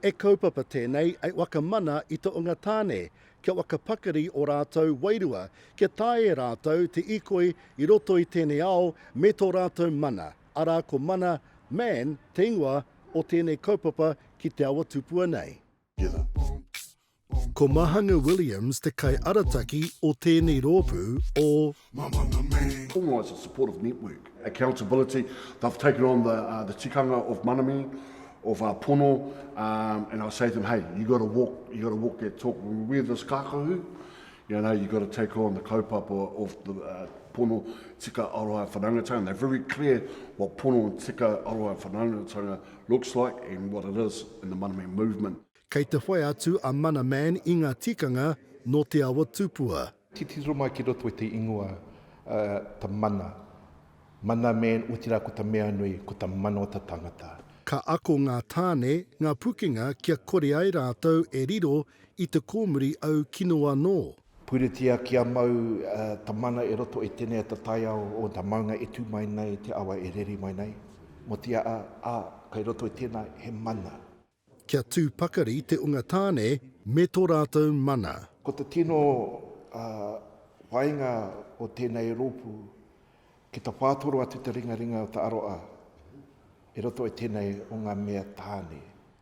E kaupapa tēnei e whakamana i te onga tāne kia whakapakari o rātou wairua kia taea e rātou te ikoi i roto i tēnei ao me tō rātou mana. arā ko Mana, Man, te ingoa o tēnei kaupapa ki te awa tupua nei. Ko Mahanga Williams te kaiarataki o tēnei rōpū o. Formalise a supportive network, accountability, they've taken on the the tikanga of mana me, of pono, and I say to them, hey, you got to walk, you got to walk that talk, we're this kākahu, You know, you've got to take on the kaupapa of the pono tika aroha whanangatanga. They're very clear what pono tika aroha whanangatanga looks like and what it is in the Mana Man movement. Kei te whai atu a Mana Man i ngā tikanga nō te awa tupua. Titiro mai ki roto i te ingoa ta mana, Mana Man, otirā ko ta mea nui, ko ta mana o ta tangata. Ka ako ngā tāne, ngā pukenga kia kore ai rātou e riro I te kōmuri au kino anō. Puritia kia mau ta mana e roto i tenea ta taiao o ta maunga e tu mai nei te awa e reri mai nei. Motia a, a, kai roto i tena he mana. Kia tu pakari te unga tane me to ratou mana. Ko te tino, a, waenga o tenei ropu, ki ta patoro atu te ringaringa o ta aroa e roto i tenei o nga mea tane.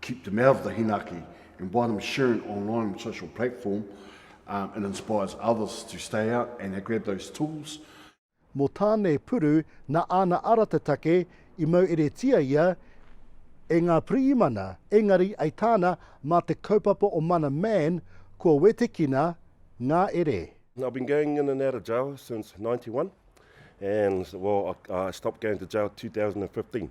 Keep them out of the hinaki and by them sharing online on social platform, um, it inspires others to stay out and they grab those tools. Mo Tane Puru na ana ara te take i maueretia ia e nga priimana, engari ai tana ma te kaupapa o Mana Man kua wetekina nga ere. I've been going in and out of jail since 91 and well I stopped going to jail 2015.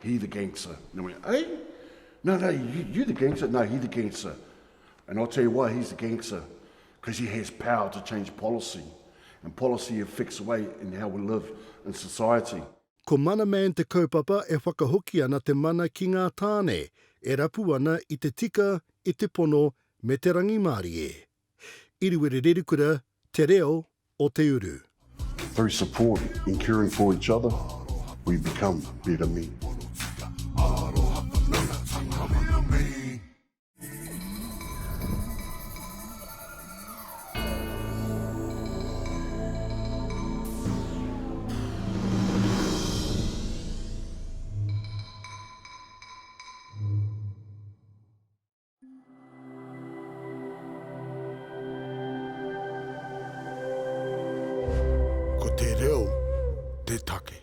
He the gangster. Nā wai, eh? No, no, you, you the gangster. No, he the gangster. And I'll tell you why he's the gangster. Because he has power to change policy. And policy affects the way in how we live in society. Ko Mana Man te kaupapa e whakahoki ana te mana ki ngā tāne e rapu ana i te tika, i te pono me te rangimārie. Iriwiriririkura te reo o te uru. Through support and caring for each other, we become better men. Ko te reo te take.